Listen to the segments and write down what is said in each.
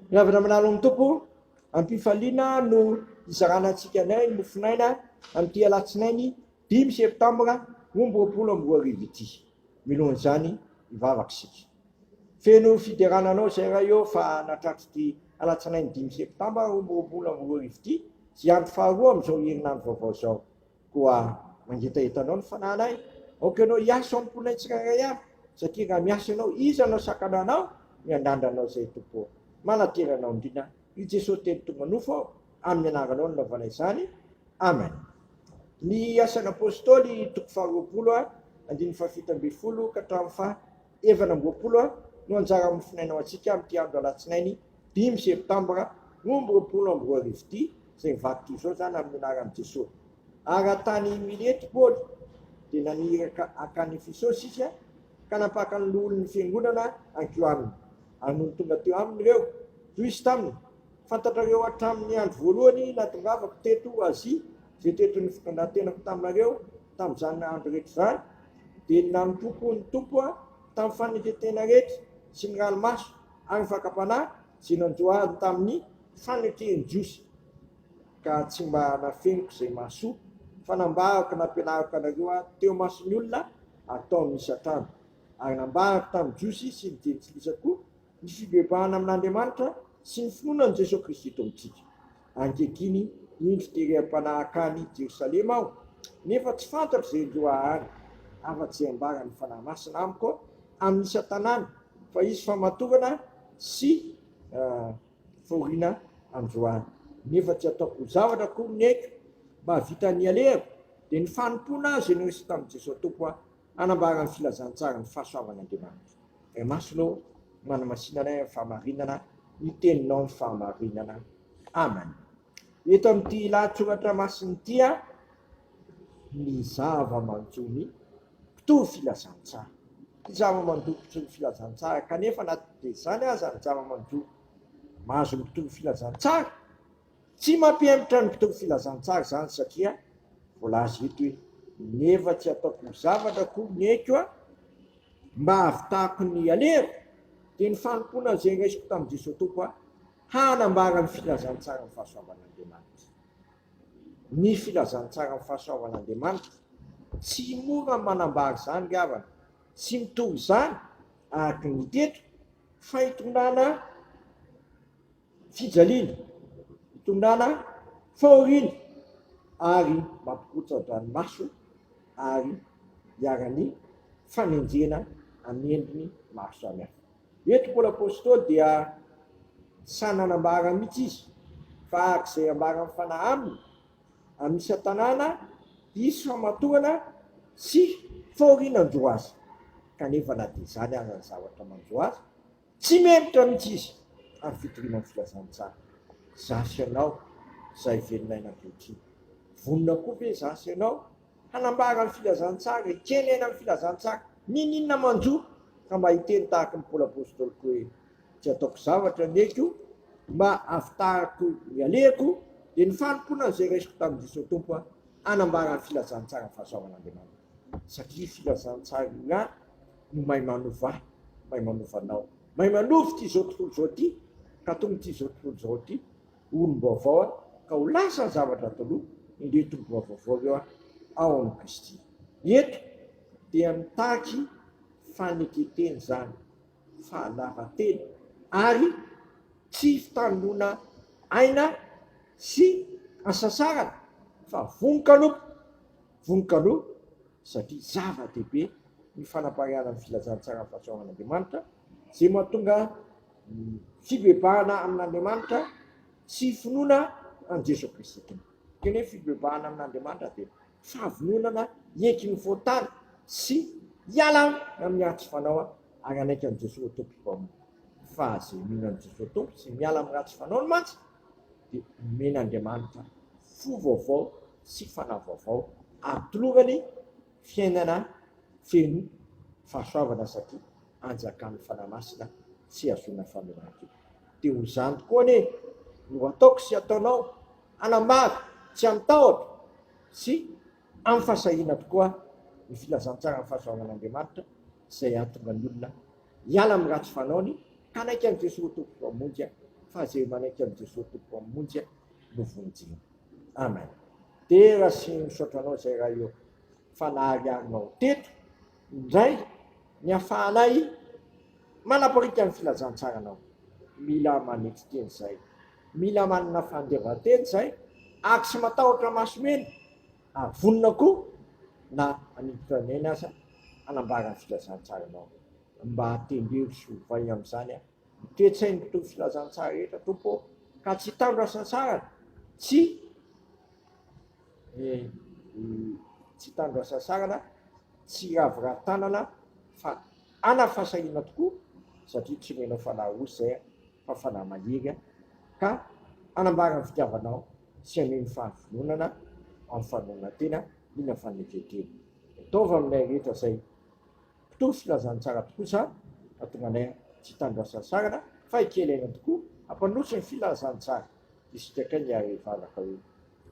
Ny avy namanalo amin'ny Tompo, am-pifaliana no hizarana antsika ny ahy mofonaina amin'ity alatsinainy dimy septambra roa amby roapolo amby roa arivo ity. Milohan'izany hivavaka isika. Feno fiderana anao izay Ray ô fa natratr'ity alatsinainy dimy septambra roa amby roapolo amby roa arivo ity izay andro faharoa amin'izao herinandro vaovao izao. Koa mangetaheta anao ny fanahinay, aoka ianao hiasa ao amin'ny mponay tsirairay avy, satria raha miasa ianao, iza no hasakana anao? Miandrandra anao izay Tompo ô! Manantena anao indrindra ry Jesoa telo tonga nofo aho, amin'ny anaranao no nanaovana izany, Amen. Ny Asan'Apôstôly, toko faharoapolo, andininy fahafito ambin'ny folo ka hatramin'ny faha. Evan ambiroapolo no anjara hamofonaina ho antsika amin'ity andro alatsinainy dimy septambra roa amby roapolo amby roa arivo ity, izay mivadika izao izany amin'ny anaran'i Jesoa. Ary raha tany Milety Paoly dia naniraka hankany Efesosy izy ka nampaka ny loholon'ny fiangonana hankeo aminy. Ary nony tonga teo aminy ireo, hoy izy taminy, Fantatrareo hatramin'ny andro voalohany natongavako teto Azia izay teto ny fitondran-tenako taminareo Tamin'izany andro rehetra izany, dia nanompoako ny Tompo tamin'ny fanekentena rehetra sy ny ranomaso ary ny fakam-panahy izay nanjohaliny tamin'ny fanekeny jiosy, ka tsy mba nafeniko izay mahasoa, fa nambarako nampianariko anareo aho teo imason'ny olona ataon'ny isan-trano, ary nambarako tamin'ny Jiosy sy ny jentilisa koa, ny fibebahana amin'Andriamanitra sy ny finoana an'i Jesoa Kristy Tompon-tsika. Ankehitriny, indro tereham-panahy hankany Jerosalema aho, nefa tsy fantatro izay hiloha ahany, afa-tsy izay ambaran'ny Fanahy Masina amiko amin'ny isan-tanàna, fa hisy famatorana sy fahoriana androany. Nefa tsy ataoko ho zavatra akory ny aiko, mba hahavita ny alehako, dia ny fanompoana izay noresy tamin'i Jesoa Tompo aho. Hanambara ny filazantsaran'ny fahasoavan' Andriamanitra. Ray Masina ô, manamasina anay amin'ny fahamarinana ny Teninao ny fahamarinana. Amen. Eto amin'ity lahatsoratra masina ity a, ny zava-manjomy mpitory filazantsara, ny zava-manjomy mpitory filazantsara, kanefa na dia izany aza ny zava-manjomy mahazo mpitory filazantsara, Tsy mampihemotra ny mpitory filazantsara izany satria voalaza eto hoe, Nefa tsy ataoko zavatra akory ny aiko a! mba hahavitako ny alehako, dia ny fanompoana izay raisiko tamin'i Jesoa Tompo aho, hanambara ny filazantsaran'ny fahasoavan'Andriamanitra. Ny filazantsaran'ny fahasoavan'Andriamanitra, tsy mora ny manambara izany ry havana, tsy mitory izany araka ny teto, fa hitondrana. fijaliana, itondrana fahoriana ary mampikotsa-dranomaso ary iharan'ny fanenjehana amin'ny endriny maro samihafa. Eto Paoly Apostoly dia tsy sahy nanambara mihitsy izy fa araka izay ambara ny fanahy aminy, amin'ny isan-tanàna hisy famatorana sy fahoriana hanjo azy, kanefa na dia izany aza ny zavatra manjo azy, Tsy meloka mihitsy izy ary fitoriana ny filazantsara. Izaho sy ianao izay velon'aina ankehitriny, vonona koa ve izaho sy ianao hanambara ny filazantsara, hikely aina amin'ny filazantsara, n'inon'inona manjo ka mba hiteny tahaka ny Paoly Apostoly koa hoe, Tsy ataoko zavatra ny aiko, mba hahavitako ny alehako, dia ny fanompoana an'izay raisiko tamin'i Jesosy Tompo hanambara ny filazantsara fahasoavan'Andriamanitra. Satria filazantsara io ihany. no mahay manova ahy, mahay manova anao, mahay manova ity izao tontolo izao ity ka tony ity izao tontolo izao ity ho olom-baovao aho ka ho lasa ny zavatra taloha, indreto tomboa vaovao ireo aho ao amin'i Kristy. Eto dia mitaky fanekentena izany, fahalavan-tena ary tsy fitandroana aina sy hasasarana fa vonon-kanompo. Vonoka aloha satria zava-dehibe ny fanapariahana ny filazantsara ny fahasoavan'Andriamanitra, izay mahatonga ny fibebahana amin'Andriamanitra sy finoana an'i Jesoa Kristy Tompo. Ny teny hoe fibebahana amin'Andriamanitra dia fahavononana hiaiky ny fahotany sy hiala amin'ny ratsy fanao ary hanaiky an'i Jesoa ho Tompo Mpamonjy. Fa izay mino an'i Jesoa Tompo sy miala amin'ny ratsy fanaony mantsy dia omen'Andriamanitra fo vaovao sy fanahy vaovao ary tolongany fiainana feno fahasoavana satria anjakan'ny Fanahy Masina tsy hahazoana famelan-keloka. Dia ho izany tokoa anie no ataoko sy ataonao hanambara tsy amin-tahotra sy amim-fahasahiana tokoa ny filazantsaran'ny fahasoavan'Andriamanitra izay hahatonga ny olona Hiala amin'ny ratsy fanaony, hanaiky an'i Jesoa ho Tompoko Hamonjy ahy, fa izay manaiky an'i Jesoa Tompoko Hamonjy ahy no vonjena. Amen. Dera sy misaotra anao izay Ray ô, fa nahariarinao teto indray ny hafahanay manapariaka ny filazantsaranao. Mila manetry teny izay, mila manana fandevan-teny izay ary tsy matahotra maso mena ary vonona koa na haniditra any aina aza hanambara ny filazantsaranao mba tendreo sy ovay amin'izany aho ny toe-tsain'ny mpitory filazantsara rehetra Tompo ô ka tsy hitandro asansarana tsy eh, tsy hitandro asansarana tsy hiraviravy tanana fa ana fasahiana tokoa satria tsy omenao fanahy osy izay fa fanahy mahery aho, ka hanambara ny fitiavanao sy haneho ny fahavononana amin'ny fanoronantena iny amin'ny fanekentena. Ataovy aminay rehetra izay mpitory filazana tsara tokoa izany, hahatonga anay tsy hitandro asa nisarana, fa hikely aina tokoa, hampandroso ny filazana tsara isika kay ny ary hivavaka hoe,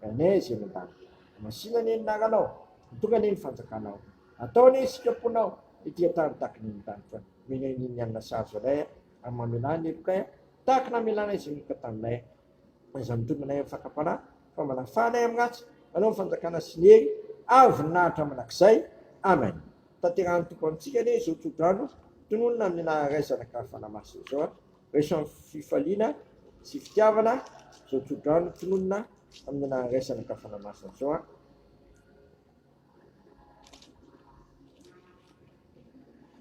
Ray anay izay any an-danitra, hamasina anie ny anaranao, mitokana anie ny fanjakanao, atao anie isika mponinao ety an-tany tahaka ny any an-danitra, omena anie ny hanina sahaza anay, Ary mamelà ny helokay aho, tahaka ny hamelànay izay mioka taminay aho. Fa izany mitombina ahy amin'ny fakam-panahy, fa manafà anay amin'ny ratsy, manao ny fanjakana sy ny hery ary voninahitra mandrakizay. Amen. Tanterahin'ny Tompo amintsika anie izao tsodrano tononina amin'ny naha Ray, Zanaka ary Fanahy Masina izao. Raiso amin'ny fifaliana sy fitiavana izao tsodrano tononina amin'ny naha Ray, Zanaka ary Fanahy Masina izao.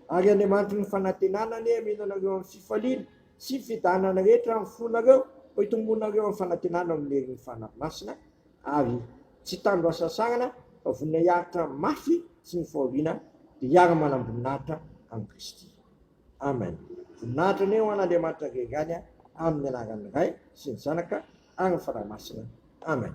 Ary Andriamanitry ny fanantenana anie hameno anareo amin'ny fifaliana sy ny fiadanana rehetra amin'ny fonareo, mba hitomboanareo amin'ny fanantenana ao amin'ny herin'ny Fanahy Masina, ary tsy hitandro hasasarana, fa vonona hiaritra mafy sy ny fahoriana, dia hiara-manam-boninahitra amin'i Kristy. Amen. Voninahitra anie ho an'Andriamanitra Ray ihany, amin'ny anaran'ny Ray sy ny Zanaka, ary ny Fanahy Masina. Amen.